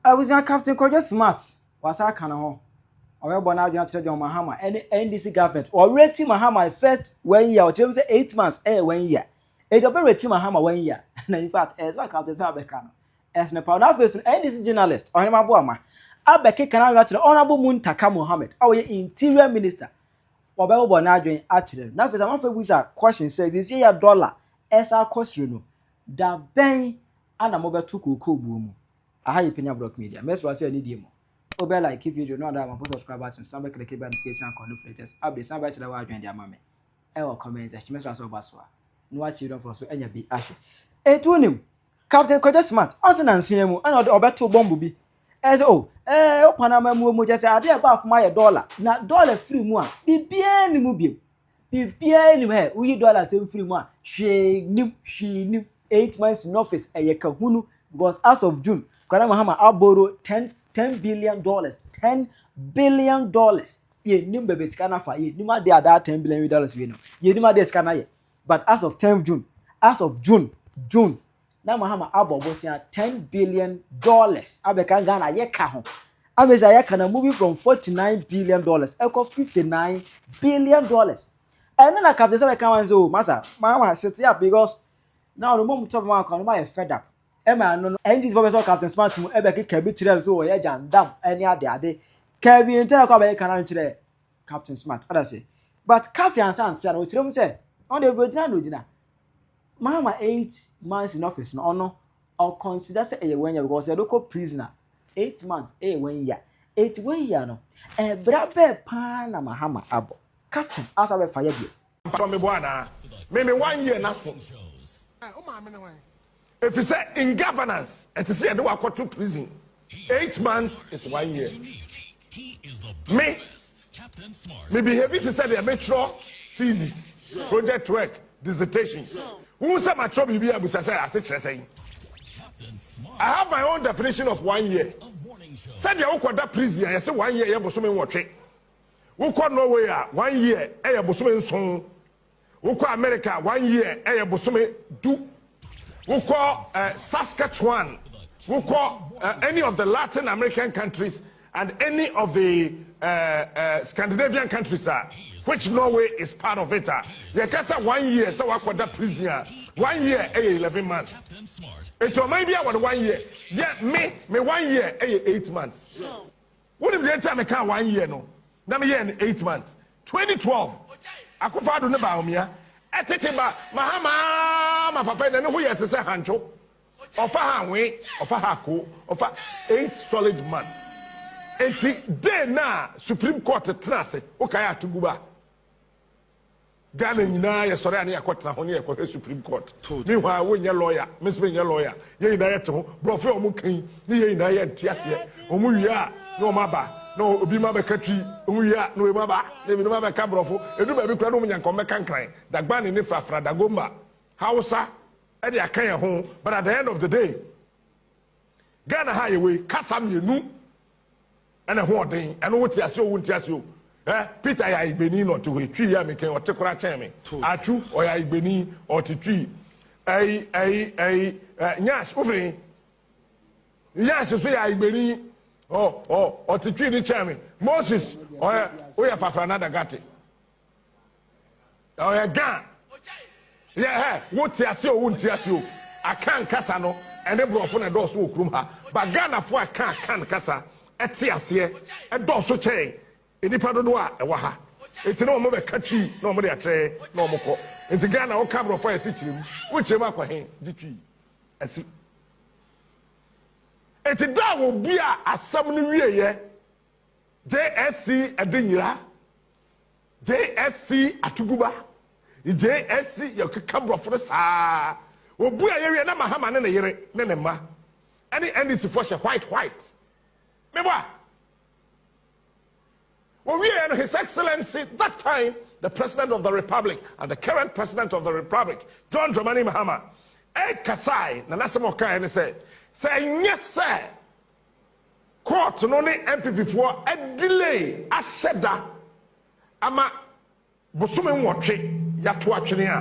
Abusua Captain Kwadwo Smart wasan aka ne ho, ɔrebɔ n'adwene akyerɛ John Mahama ne NDC government. Ɔwerɛti Mahama first one year, ɔkyerɛ mu sɛ eight months yɛ one year. Enti ɔbɛwerɛti Mahama one year. Na in fact, ɛyɛ sɛ Captain Smart bɛka no. Ɛsɛ ne paa. Na afei so no, NDC journalist, Ɔhene Maboama, abɛkeka n'adwene akyerɛ Honourable Muntaka Mohammed a ɔyɛ Interior Minister. Ɔbɛbobɔ n'adwene akyerɛ no. Na afei so, amanfoɔ abisa question sɛ, seesei yɛ dollar ɛsan akɔ soro no, da bɛn Ana mo bɛ to kookoo buo mu. Aha ye Penya Brock Media. Mɛ sra sɛ anidie mu. O bɛ like video no ada ama po subscribe button san bɛ click bɛ notification akɔn no for latest update san bɛ kyerɛ w'adwene de ama me ɛwɔ comment section mɛ sra sɛ ɔba soa no wa children fɔ so anya bi ahwɛ. Enti wonim Captain Kwadwo Smart ɔse nansa mu ɛna ɔde ɔbɛto bɔmbo bi ɛsɛ o ɛɛ opan ama mu mu kyɛ sɛ adeɛ ɛbɔ afom ayɛ dɔla na dɔla firi mu a biribiara ni mu biom biribiara nim hɛ woyi dɔla asɛm firi mu a hwee nim hwee nim eight months in office ɛyɛ kahunu because as of june kwara mahama aboro ten ten billion dollars ten billion dollars yɛnim baabi sika no afa yɛnim adeɛ a daa ten billion dollars wei no yɛnim adeɛ sika no ayɛ but as of ten june as of june june na mahama abɔ bosea ten billion dollars abɛka ghana yɛka ho amesi ayɛ kana moving from forty nine billion dollars ɛkɔ fifty nine billion dollars ɛne na kapte sɛ bɛka wɔn sɛ o masa maa wa set up because na ɔno mom tɔpɔ mu akɔ ɔno ma yɛ fed up ɛma ɛno no ɛne gyesifo bɛsɛ kapte smart mu ɛbɛkeka bi kyerɛ no sɛ wɔyɛ gyandam ɛne ade ade kɛbi ntɛnɛ kɔ abɛyɛ kana nkyerɛ kapte smart adase but kapte ansa ntea no ɔkyerɛ mu sɛ ɔno deɛ bɛgyina na ɔgyina Mahama eight months in office no ɔno ɔ consider sɛ ɛyɛ one year because yɛde kɔ prison a eight months ɛyɛ one year eti one year no ɛbra bɛɛ paa na Mahama abɔ captain a ɔsan bɛfa yɛ deɛ. Mpakyɛw meboa anaa? Me me one year no aso. Ɛɛ wo maame ne hwan? Efisɛ in governance ɛte sɛ yɛde wo akɔto prison. eight months is one year me me behavi te sɛ deɛ metwerɛ thesis project work dissertation wohu sɛ matwerɛ biribi a busa sɛ ase kyerɛ sɛn i have my own definition of one year sɛdeɛ wokɔda prison a yɛse one year yɛ bosome nwɔtwe wokɔ norway a one year ɛyɛ bosome nson Wokɔ America a, one year yɛ bosome du. Wokɔ eh, Saskatchewan, wokɔ eh, any of the Latin American countries and any of the eh, eh, Scandinavian countries a, which Norway is part of it a, yɛka sɛ one year sɛ wakɔda prison a, one year yɛ 11 months. Nti ɔman bi a wɔde one year, yɛ me, me one year yɛ 8 months. Wonim deɛ nti a mekaa one year no na meyɛɛ no eight months? 2012 Akufo Addo ne Bawumia tete ba Mahama aa ma papa yi na ne ho yɛ te sɛ hantwo ɔfa ha hwee ɔfa ha koo ɔfa eight solid months enti day no a Supreme Court tena ase wokae a to gu ba Ghana nyinaa yɛ sɔre a ne yɛ kɔ tena ho ne yɛ kɔ hwɛ supreme court me hɔ a wo nyɛ lawyer me nso me nyɛ lawyer yɛ nyinaa yɛ te ho brɔfo yɛ ɔmo kan ne yɛ nyinaa yɛ nte aseɛ ɔmo wie a ne ɔmo aba na obi ma bɛka twi ɔmo wie a na ɔmo aba na ebi ma bɛka brɔfo edu baabi kura na ɔmo nya nka ɔmo bɛka nkran dagbani ne frafra dagomba hausa ɛde aka yɛ ho but at the end of the day Ghana ha yɛ wei kasa mmienu ɛna ho ɔden ɛno wo te ase o wo nte ase o ɛ Peter yɛ ayigbeni na ɔte hɔ etwi yɛ mekɛn ɔte kora kyɛn me atwu ɔyɛ ayigbeni ɔte twi ɛyi ɛyi ɛyi ɛ nyash wofiri nyash so yɛ ayigbeni ɔ ɔ ɔte twi ne kyɛn me Moses ɔyɛ woyɛ fafra na dagate ɔyɛ gan yɛ hɛ wo te ase o wo nte ase o akan kasa no ɛne borɔfo na ɛdɔɔso wɔ kurom ha ba ghanafo a ɛka akan kasa ɛte aseɛ ɛdɔɔso kyɛn nnipa dodoɔ a ɛwɔ ha nti na wɔn bɛka twi na wɔn de akyerɛ na wɔn kɔ nti ghana woka borɔfo a yɛsi kyerɛ mu wo kyerɛ mu akɔ he gye twi asi nti da a wɔbua asɛm no wieyɛ jsc ɛde nyira JSC atodwo ba yi JSC yɛ keka brɔfo no saa obu a yɛwie na Mahama ne ne yere ne ne mma ɛne NDC fo hyɛ white white mebɔ a owie yɛ no his excellency that time the president of the republic and the current president of the republic John Dramani Mahama ɛkasae na nasɛm ɔkae ne sɛ sɛ nyɛ sɛ Court no ne NPP foɔ adelay ahyɛ da ama bosome nwɔtwe yato atwene a,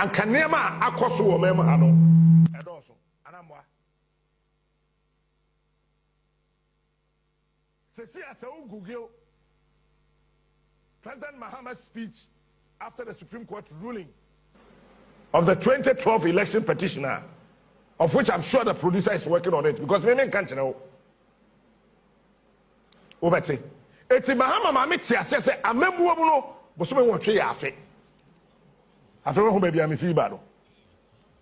anka nneɛma a akɔ so wɔ ɔman mu ha no ɛdɔɔso anaa mmoa. Seesei a sɛ wo Google President Mahama's speech after the Supreme Court ruling of the twenty twelve election petition a, of which I'm sure the producer is working on it because me me nka nkyerɛ wo. Wobɛte. Eti Mahama maame te aseɛ sɛ amammuo mu no bosome nwɔtwe yɛ afe. Afei wahu baabi a mefi ba no.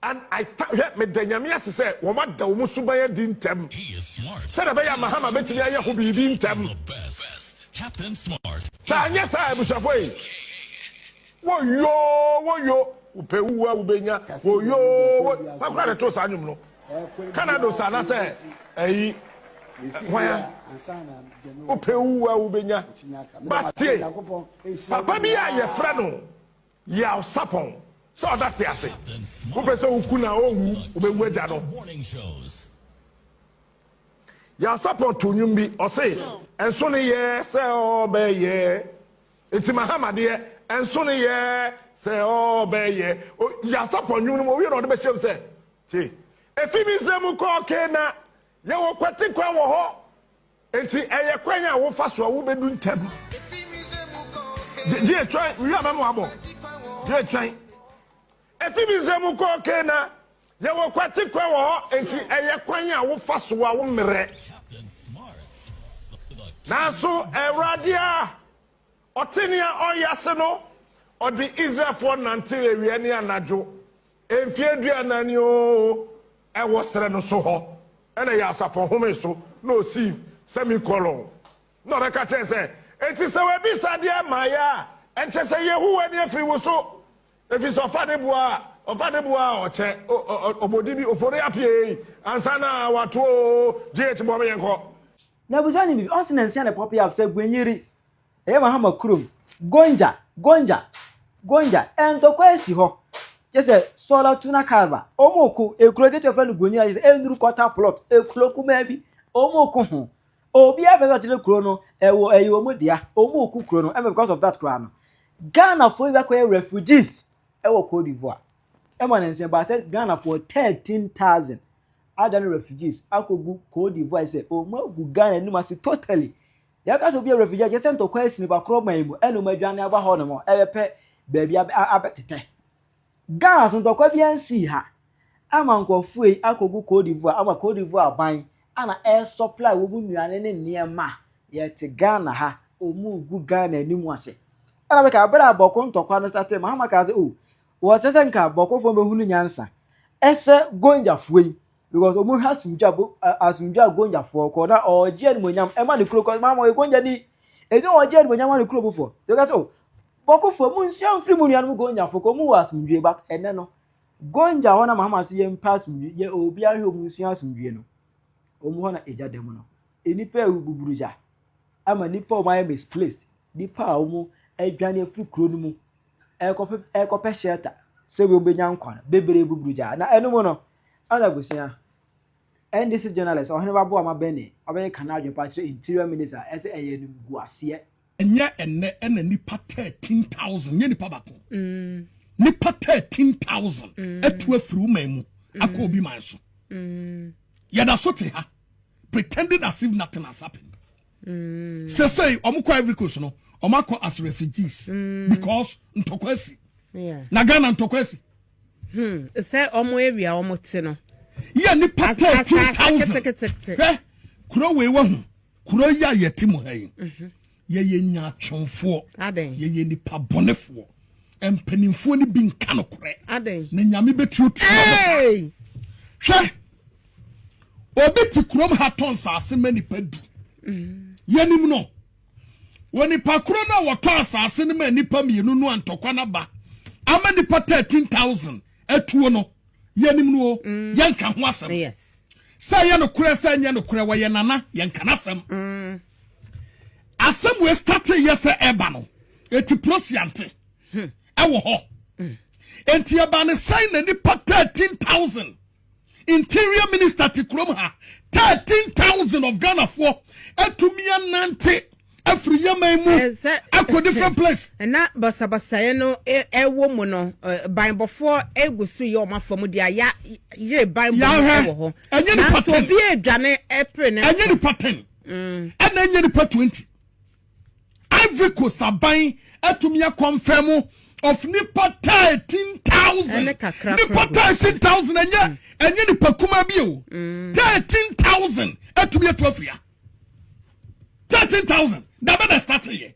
And I thank hwɛ meda Nyame ase sɛ wɔada wɔn suban adi ntɛm sɛdeɛ ɛbɛyɛ a Mahama bɛtumi ayɛ ho biribi ntɛm. Sɛ anyɛ saa a abusuafoɔ ei, woyoo woyo, wopɛ wuwu a wobɛnya, woyoo wo, hwan koraa na ɛtoo saa nnwom no? Canados anaasɛ ayi hwan a? Wopɛ wuwu a wobɛnya, but tie, papa bi a yɛfrɛ no. Yaw sapɔn sɛ ɔda se ase. Wopɛ sɛ woku no a, ɔnwu, wobɛwu agya no. Yaw sapɔn too nnwom bi, ɔse. Ɛnso ne yɛ sɛ ɔbɛyɛ. Enti Mahama deɛ, ɛnso ne yɛ sɛ ɔbɛyɛ. O, Yaw sapɔn nnwom no mu, owie na ɔde bɛhyɛm sɛ, Te, efi Misraim kɔ Kana, yɛwɔ kwati kwan wɔ hɔ. Enti ɛyɛ kwan a wofa so a wubedu ntɛm. Gye twɛn, wiɛ a mɛma wabɔ. Gye twɛn. Efi Misraim kɔ Kana, yɛwɔ kwati kwan wɔ hɔ, enti ɛyɛ kwan a wofa so a wommerɛ. Nanso Awurade a. Ɔte nea ɔreyɛ ase no, ɔde Israelfoɔ nantew awia ne anadwo, mfeɛ aduanan ni oo, ɛwɔ serɛ no so hɔ, ɛna ɛyɛ asafo nhome so na ɔsii, sɛmikɔlɔn. Na ɔbɛka kyerɛ sɛ, Enti sɛ wabisa adeɛ mmaeɛ a, ɛnkyɛ sɛ Yehowa ani afiri wo so, ɛfiri sɛ ɔfa ne boa a, ɔfa ne boa a ɔkyɛ, o, ɔ, ɔ, ɔbɔ din bi, ofori apiei, ansa na wato oo, GH, boa me yɛnkɔ. Na ɔbisaa no biribi, ɔse nansia na ɛpɔpee a, ɔbisa, Gwen yere, Ɛyɛ Mahama kurom. Gonja, Gonja, Gonja, ntɔkwa asi hɔ. Kyɛ sɛ Sola Tuna Carva, wɔn ko ekuro ketewa fɛ no Gonia, kyɛ sɛ enuru kɔta plot, ekuro kumaa bi, wɔn ko ho. Obiara pɛ sɛ ɔkyerɛ kuro no, ɛwɔ ɛyɛ wɔn dea, wɔn ko kuro no, ɛmɛ because of that koraa no. Ghanafoɔ bi akɔyɛ refugees ɛwɔ Cote d'Ivoire. Ɛma ne nsɛm baa sɛ Ghanafoɔ thirteen thousand ada no refugees akɔgu Cote d'Ivoire sɛ wɔn agu Ghana anim ase totally. Yɛka sɛ obi yɛ refugee a, kyerɛ sɛ ntɔkwa asi no bakoro man mu ɛna wɔadwane aba hɔnom ɛrebɛpɛ baabi abɛtetɛ. Ghana nso ntɔkwa biara nsii ha ama nkurɔfoɔ yi akɔgu Cote d'Ivoire ama Cote d'Ivoire aban ɛna ɛresupply wɔn nnuane ne nneɛma. Yɛte Ghana ha, wɔregu Ghana anim ase. Ɛna bɛka berɛ a Bɔko ntɔkwa no startee, Mahama kaa sɛ oh, wɔsɛ sɛ nka Bɔkofoɔ bɛhunu nyansa ɛsɛ Gonjafoɔ yi Because ɔmo hwɛ asomdwe a asomdwe a Gonja foɔ kɔ na ɔgye animonyam ɛma ne kuro kɔ maa ɔyɛ Gonja ni eti ɔgye animonyam ma ne kuro mu foɔ tɛka so bɔkofoɔ mu nsua nfiri mu nuanom Gonja foɔ kɔ ɔmo wɔ asomdwe but ɛnɛ no Gonja hɔ na mahama se yɛn pɛ asomdwe yɛ obi ahwɛ ɔmo nsua asomdwe no ɔmo hɔ na egya dɛm no enipa ewu buburu gya ama nipa ɔmo ayɛ misplaced nipa a ɔmo adwane afiri kuro no mu ɛkɔpɛ ɛkɔpɛ shelter sɛ wɔn bɛnya nkwa no bebree buburu gya na ɛno mu no. Ɛna abusua. NDC journalist ɔhene ba boa ma bɛne ɔbɛyɛ ka n'adwene pa akyerɛ interior minister a ɛsɛ ɛyɛ animguaseɛ. Nyɛ ɛnnɛ ɛna nipa thirteen thousand nyɛ nipa bako nipa thirteen thousand atu afiri wo man mu akɔ obi man so yɛda so te ha pretending as if nothing has happened sesei ɔmo kɔ Ivory Coast no ɔmo akɔ as refugees because ntɔkwa asi na Ghana ntɔkwa asi Hmm, sɛ wɔn awia wɔn te no. Yɛ nipa thirteen thousand. Hwɛ kuro wei wɔ ho kuro yi a yɛte mu ha yi. Mhm. Yɛyɛ nyaatwomfoɔ. Adan. Yɛyɛ nipa bɔnefoɔ. Mpanimfoɔ no bi nka no korɛ. Adan. Na nyame bɛtuatua no. Hwɛ obi te kurom ha tɔn saase ma nipa du. Mhm. Yɛnim no. Wɔ nipa koro no a wɔtɔ asase no ma nnipa mmienu no a ntɔkwa no aba ama nnipa 13,000 atuo no, yɛnim no o, mm. yɛnka ho asɛm. Sɛ ɛyɛ nokorɛ sɛ ɛnyɛ nokorɛ wɔyɛ nana, yɛnka no asɛm. Mm. Asɛm wei state yɛ sɛ ɛba no, ɛti prosiante hmm. ɛwɔ hɔ. Mm. Enti ɛba ne sɛn na nnipa 13,000 Interior minister te kurom ha. Thirteen thousand of Ghana foɔ atumi anante afiri Yemen mu akɔ different place. Ɛna basabasayɛ no ɛwɔ mu no banbɔfoɔ egu so yɛ wɔn afa mu deɛ ya yere banbɔ mu ɛwɔ hɔ. Ɛnyɛ nipa ten. Nanso obi edwane ɛpere ne. Ɛnyɛ nipa ten. Ɛna ɛnyɛ nipa twenty. Ivory Coast aban atumi akɔnfɛmo of nipa thirteen thousand nipa thirteen thousand ɛnyɛ mm. ɛnyɛ nipa kuma bi o mm. thirteen thousand ɛtumi etu afia thirteen thousand dabe na start yɛ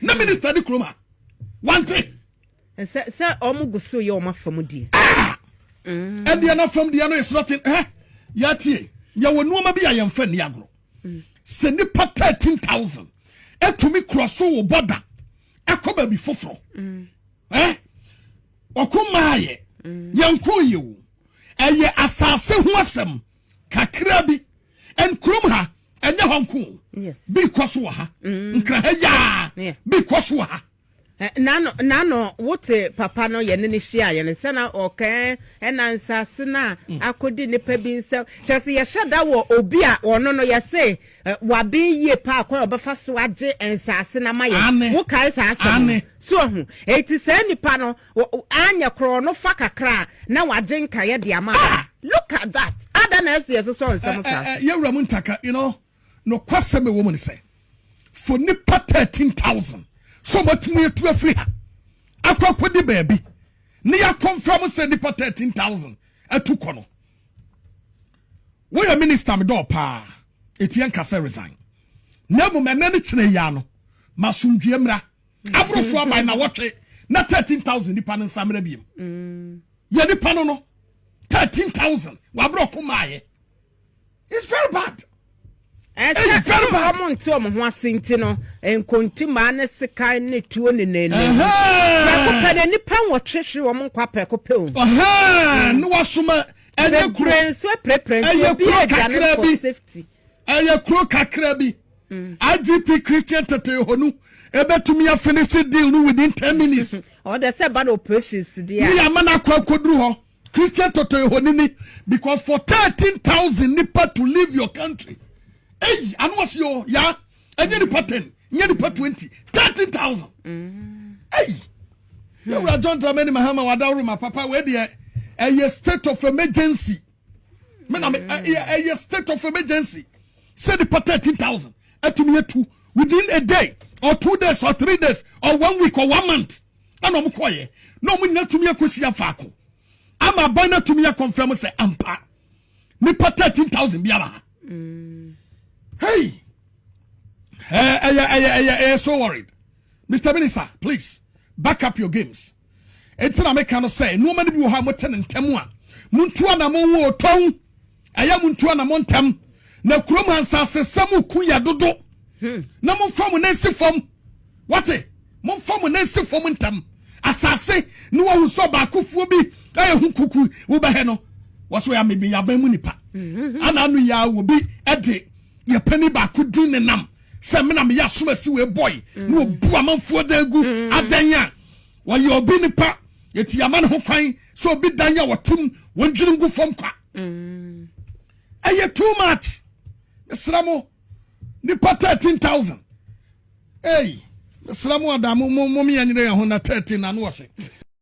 na minister di kuroma wante. sɛ sɛ wɔn go so yɛ wɔn afam die. Ah! Mm. ɛdeɛ na fam deɛ no yɛ sɔrɔ ten ɛ yɛ tie yɛ wɔ nneɛma bi a yɛn fɛ ni agorɔ. sɛ nipa thirteen thousand etumi kurɔ so wɔ bɔda ɛkɔ baabi foforɔ mm. ɛ ɔko mmaa yɛ mm. yɛn ko yɛ o ɛyɛ asaase ho asɛm kakra bi ɛn kurom ha ɛnyɛ hɔ nko bi kɔ so wɔ ha mm. nkira ha yaa bi kɔ so wɔ ha. Na no wo te papa no yɛne no hyiaeɛ no sɛ na ɔkɛɛ ɛna nsase no a akɔdi nnipa bi nsam kyerɛ sɛ yɛhyɛ da wɔ obi a ɔno no yɛse waben yie paa kwan a ɔbɛfa so agye nsase no ama yɛn wo kae saa asɛm no so wahu ɛti saa nnipa no anyɛ korɔ no fa kakra a na wagye nkaeɛ de ama ah look at that ada na ɛse yɛsosɔ nsɛm saa so yɛwura mu ntaka you know Nokwasɛm a ɛwɔ mu ne sɛ, for nnipa 13,000 sɛ wɔatumi atu afiri ha akɔ akɔdi baabi ne yɛakɔmfra mo sɛ nnipa 13,000 atu kɔ no woyɛ minista me dɔɔ paa ɛtiɛ nka sɛ resign na mmom ɛnɛ ne kyerɛ yia no masomdwie mmra mm. aborɔfo aban na wɔtwe na 13000 nipa no nsa mmra biom mm. yɛ nipa no no 13000 waborɔko maayɛ it's very bad. ɛsɛ very bad. wɔn nti wɔn ho ase nti no nkontimaa ne sekan ne tuo ne nene. prɛko pɛ na nipa nwɔtwehwe wɔn nkwa prɛko pɛ o. Mm. ne wasoma ɛyɛ kuro ɛyɛ kuro kakra bi ɛyɛ kuro kakra bi mm. igp christian tete honu ebetumi afini si deal no within ten minutes. ɔdɛ sɛ ba na operation si di a. mi yà mana kɔ ekoduru hɔ. Christian tɔtɔ ehonini because for thirteen thousand nipa to leave your country eyi ano ɔsi yɛ o yaa ɛnyɛ nipa ten nyɛ nipa twenty thirteen thousand eyi yɛwura John Dramani Mahama wadaworo ma papa wei deɛ ɛyɛ state of emergency me na me ɛyɛ state of emergency sɛ nipa thirteen thousand ɛtumi etu within a day or two days or three days or one week or one month. ɛna wɔn kɔɔyɛ na wɔn nyinaa tumi akɔsi afaako ama aban no atumi akɔnfɛn mu sɛ ampa nipa thirteen thousand biara ha mm. hey ɛyɛ ɛyɛ ɛyɛ ɛyɛ so worried mr minister please back up your games ɛnti na meka no sɛ nneɛma no bi wɔ hɔ a motɛ ne ntɛm a montu anamɔ wɔ ɔtɔn Ɛyɛ mo ntu anamɔ ntɛm, na kurom ha nsasesɛm mu ku yɛ dodo. Hmm. Na momfa mo nan nsi fam. Wate? Momfa mo nan nsi fam ntɛm. Asase ne wahu sɛ ɔbaakofoɔ bi ɛyɛ ho kuku wobɛhɛ no. Wɔso yɛ amebe yɛ aban mu nipa. Hmm. Ana ano yɛ a wɔbi ɛde yɛ pani baako din ne nam sɛ mena meyɛ asomasi wei bɔe ne wɔbu amanfoɔ dan gu adan a wɔyɛ obi nipa eti yɛama ne ho kwan sɛ obi dan a wɔtem wɔn dwiri ngu fam kwa mm. ɛyɛ too much mesrɛ mo nipa 13000 ei mesrɛ mo ada momeyɛ nyerɛ yɛ ho na 13 na no wɔhwe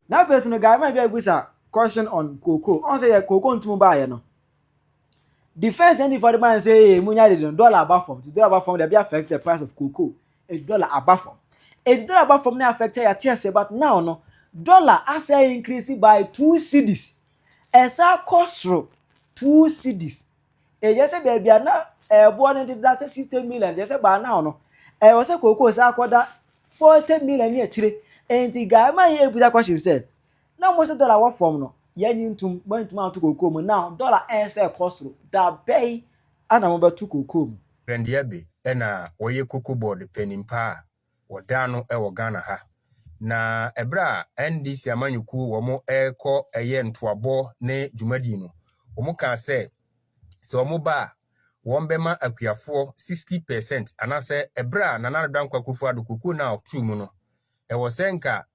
na afei so no guy ma bi abusa question on koko ɔn sɛ yɛ koko ntum baayɛ no Defence ɛne fɔde ban sɛ ee mo nya de no dollar aba fam ti dollar aba fam dabi affect the price of cocoa eti dollar aba fam eti dollar aba fam na affect ya te ase but now no dollar asa increase by two cedis ɛsa kɔ soro two cedis ɛyɛ sɛ baabi a na ɛboɔ no deda sɛ sixty million ɛyɛ sɛ baa now no ɛwɔ sɛ cocoa sa akɔda forty million ne akyire nti guy ma yɛ ebusa question sɛ Na mo sɛ dɔla wɔ fam no, yɛnye ntom, moantum anto kookoo mu, na dɔla ɛnsɛ ɛkɔ soro, da bɛn na mobɛto kookoo mu? Dwandea be na wɔyɛ cocoa board panin paa a wɔdan no wɔ Ghana ha. Na ɛberɛ a NDC amanyɔkuo wɔn rekɔ ɛyɛ ntoabɔ ne dwumadie no, wɔn kaa sɛ, sɛ wɔn ba a, wɔn bɛma akuafoɔ 60 percent, anaasɛ ɛberɛ a Nana Addo Dankwa Akufo Addo cocoa no a ɔtoo mu no, Ɛwɔ sɛ nka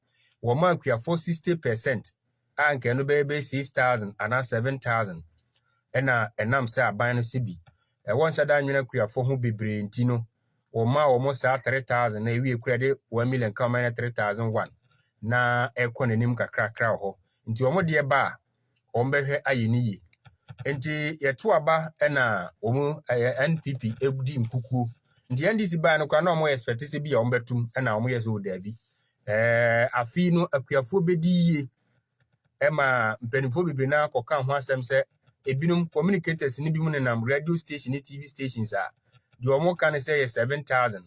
wɔma akuafoɔ sixty per cent a nka ɛno bɛyɛ bɛyɛ six thousand anaa seven thousand ɛna ɛnam sɛ aban no sɛ bi ɛwɔ nhyɛ da nwene akuafoɔ ho bebree nti no wɔma wɔn saa three thousand na ewie kura de one million ka wɔn ayɛ three thousand one na ɛkɔ n'anim kakrakra wɔ hɔ nti wɔn deɛ ba a wɔbɛhwɛ ayɛ no yie. Nti yɛto aba na wɔn ɛyɛ NPP di nkukuo. Nti NDC baa no koraa na wɔn expect sɛ bi a wɔbɛtum na wɔn yɛ sɛ o daabi. Ɛɛ afei no akuafoɔ bɛdi yie ɛma mpanimfoɔ bebree no akɔka ho asɛm sɛ ebinom communicators no bi mu nenam radio station ne TV stations a deɛ wɔn ka no sɛ yɛ seven thousand.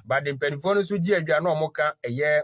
But mpanimfoɔ no nso gye adwa na wɔn ka ɛyɛ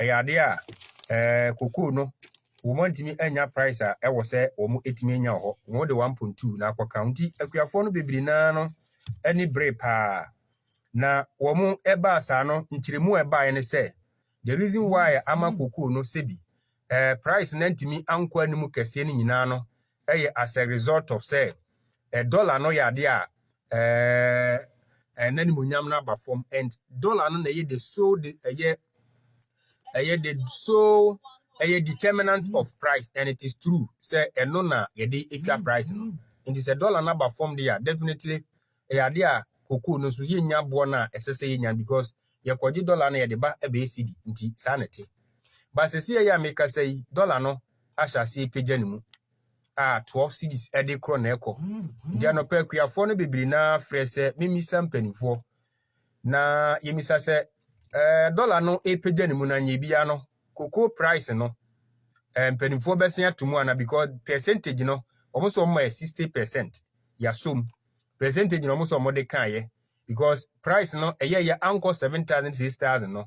Ɛyɛ adeɛ a ɛɛ kokoo no wɔantumi anya price a ɛwɔ sɛ wɔtumi nya wɔ hɔ. Wɔde 1.2 na akɔka nti akuafoɔ no bebree naa no ani bere paa. Na wɔn ɛbaa saa no nkyerɛmu a ɛbaeɛ ne sɛ the reason why ama kokoo no sɛbi ɛɛ price no antumi ankɔ anim kɛseɛ no nyinaa no yɛ as a result of sɛ eh, dollar no yɛ adeɛ a eh, eh, n'animuonyam no aba fam and dollar no na ɛyɛ the sole de ɛyɛ ɛyɛ the sole ɛyɛ determinant of price and it is true sɛ ɛno na yɛde atwa price no nti sɛ dollar no aba fam deɛ a definitely ɛyɛ adeɛ a cocoa no nso yɛnnya boɔ no a ɛsɛ sɛ yɛnya because yɛkɔgye dollar no yɛde ba ɛbɛyɛ cedi nti saa na ɛte but sɛsi ɛyɛ a mekasa yi dollar no ahyɛ aseɛ pagya ne mu a 12 cedis ɛde korɔ na ɛkɔ nti anɔpa akuafoɔ no bebree na frɛ sɛ memisa mpanimfoɔ na yɛmisa sɛ ɛɛ dollar no ɛpagya ne mu na nyɛ biara no cocoa price no ɛɛ mpanimfoɔ bɛsen ato mu ana because percentage no wɔn nso wɔn ma yɛ 60 percent yɛasom percentage na wɔn sɛ wɔde kaeɛ because price no ɛyɛyɛ ankɔ seven thousand six thousand no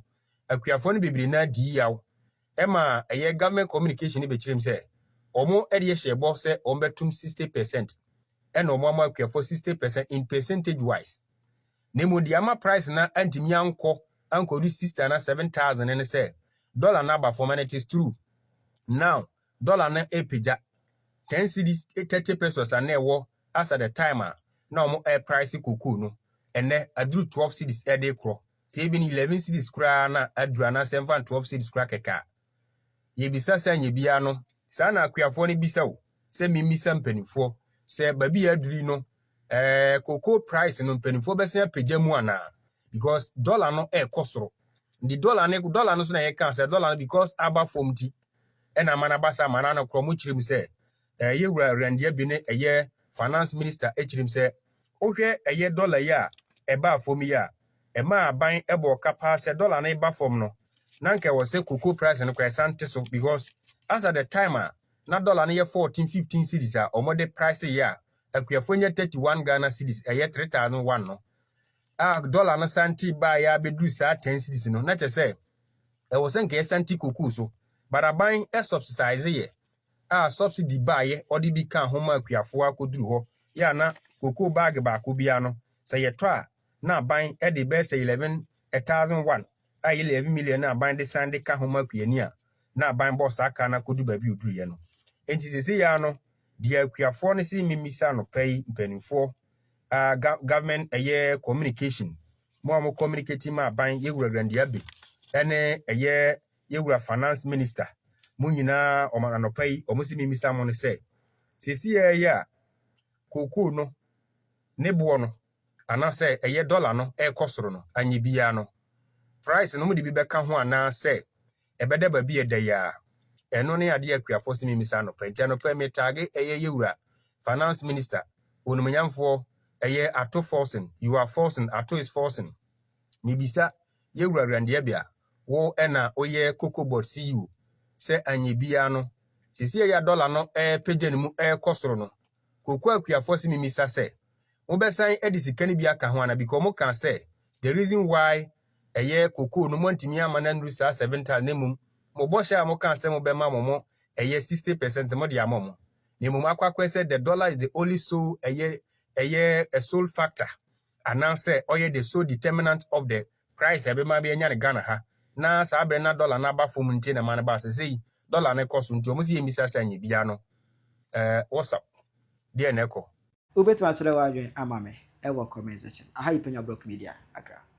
akuafoɔ no bebree na di yaw ɛma ɛyɛ government communication no bɛkyerɛ mu sɛ wɔn de hyɛ bɔ sɛ wɔn bɛtum sixty percent ɛna wɔn ama akuafoɔ sixty percent in percentage wise na emu deɛ ama price na antumi ankɔ ankɔ di sixty na seven thousand ne sɛ dollar na aba fam and it is true now dollar no ɛpagya ten cedi thirty pesos a na ɛwɔ as at the time a na ɔmo ɛɛpraese cocoa no, ɛnɛ aduru twelve cedis ɛɛde korɔ, sɛ even eleven cedis koraa na aduru anaa sɛ ɛmfa twelve cedis koraa kɛkɛ a, yɛbisa sɛ nyɛ biaa no, saa na akuafoɔ no bisa o, sɛ memmisa mpaninfoɔ sɛ baabi a aduru yi no ɛɛ cocoa praese no mpaninfoɔ bɛsan apagya mu anaa, because dɔla no ɛɛkɔ soro, nti dɔla no dɔla no nso na yɛkaa sɛ dɔla no because aba fɔm nti ɛna ama no aba saa ma na nokorɛ ɔmo kyerɛ mu sɛ Na ɛyɛ wura Erɛndeɛ bi ne ɛyɛ Finance Minister ɛkyirim sɛ wohwɛ ɛyɛ dɔla yi a ɛbaa fɔm yi a, ɛmaa aban ɛbɔɔ ka paa sɛ dɔla no reba fɔm no na nka ɛwɔ sɛ cocoa price no koraa ɛsan nte so because as at the time a na dɔla no yɛ 14, 15 cedis a wɔn de price yɛ a akuafoɔ nya 31 Ghana cedis ɛyɛ 3001 no a dɔla no san te baa yɛ abɛduru saa 10 cedis no na kyɛ sɛ ɛwɔ sɛ nka yɛsan te cocoa so but aban ɛsubsidize yɛ a subsidy baeɛ ɔde bi kaa ho maa Kuafoɔ akɔduru hɔ yɛ a na cocoa bag baako biara no sɛ yɛtɔ a na aban de bɛyɛ sɛ 11 thousand won a ɛyɛ 11 million na aban de san de ka ho ma Kuani a na aban bɔɔ saa kaa no akɔduru baabi a ɔduruiɛ no. Enti seesei ara no deɛ Kuafoɔ no se memmisa anɔpa yi mpanimfoɔ a government ɛyɛ communication mo a mo communicating ma aban yɛ Wura Grandi Abbey ɛne ɛyɛ Yɛ wura Finance Minister, mo nyinaa wɔn anɔpa yi wɔn se mimisa mo no sɛ, seesei ara yi a kookoo no ne boɔ no anaasɛ ɛyɛ dɔla no ɛrekɔ soro no, anyɛ biara no price no mode bi bɛka ho anaa sɛ ɛbɛda baabi a ɛda yi ara? Ɛno ne adeɛ a akuafoɔ se mimisa anɔpa yi. Nti anɔpa yi metaage ɛyɛ yɛ wura Finance Minister, onumonyamfoɔ, ɛyɛ Ato Forson, you are forcing, Ato is forcing. Mibisa yɛ wura Randiabia, wo na woyɛ kokobot CEO. Sɛ anyɛ biara no, seesei yi a dɔla no repagya ne mu rekɔ soro no, koko akuafoɔ se memisa sɛ, mobɛsan de sika no bi aka ho anaa because wɔkaa sɛ the reason why ɛyɛ koko no moantumi amma no annuru saa seven thousand na mmom mo bɔhyɛ a mokaa sɛ mobɛma mo mo ɛyɛ sixty percent mode ama mo na mmom akɔ akɔyɛ sɛ the dollar is the only sole ɛyɛ ɛyɛ a sole factor anaasɛ ɔyɛ the sole determinant of the Price a ɛbɛma bi anya no Ghana ha, na saa bere no na dɔla no aba fam nti na ɛma no baa sɛ sei. Dɔla no kɔ so nti wɔn se yɛmmisa sɛ anyɛ biara no ɛɛ Whatsapp deɛn na ɛkɔ? Wobɛtumi akyerɛ w'adwene ama me wɔ comment section. Aha yɛ Penya Brock Media, Accra.